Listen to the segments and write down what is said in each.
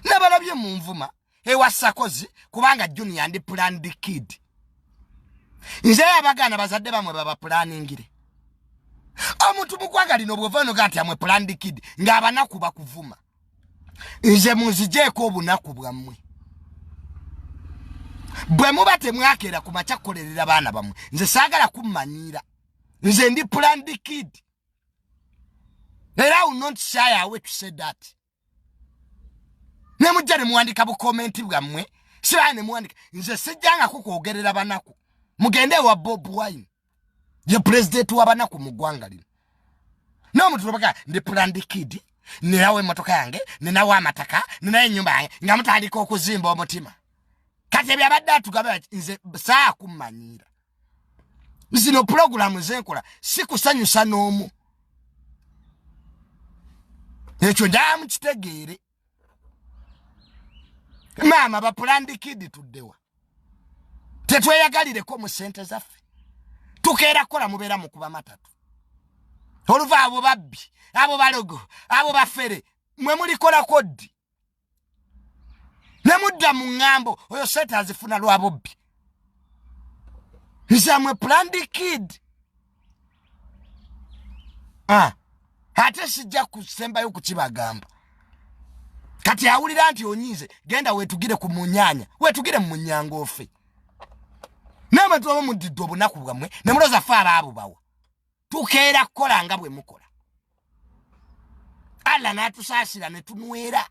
nabalabye munvuma ewa sakozi kubanga junior ndi planned kid nze abagana bazadde bamwe baba planningire omuntu mugwanga lino bwova noga nti amwe planned kid ngaabanaku bakuvuma nze munzijeeko obunaku bwammwe bwe muba temwakeera ku makya kukolerera baana bamwe nze saagala kummanyiira nze ndi planned kid era u not shy away to say that ne mujja ne muwandika bu comment bwamwe sira ne muwandika nze sijjanga kukwogerera banaku mugende wa bob wine ye president wa banaku mu gwanga lino no mtu tubaka ndi planned kid ni nawe motoka yange ni nawe amataka ni nawe nyumba yange nga mtu aliko kuzimba omutima kati ebya badatu gabe nze saa kumanyira zino pulogulaamu zenkola si kusanyusa n'omu ekyo njala mukitegeere maama bapulandikidi tuddewa tetweyagalireko mu sente zaffe tukeera kukola mubeera mukuba matatu oluva abo babbi abo balogo abo bafere mwe mulikolako ddi ne mudda mu ŋŋambo oyo sente azifuna lwa bubbi nzamwe plandi kid ah, ate sijja kusembayo kukibagamba kati awulira nti onyiize genda wetugire ku munyanya wetugire mu munyanga ofe n'abantu baba mudidde obunaku bwammwe ne muloza fe abaabubawa tukeera kukola nga bwe mukola allah n'atusaasira ne tunwera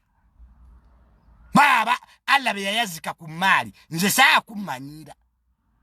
baaba allah be yayazika ku mmaali nze saakummanyiira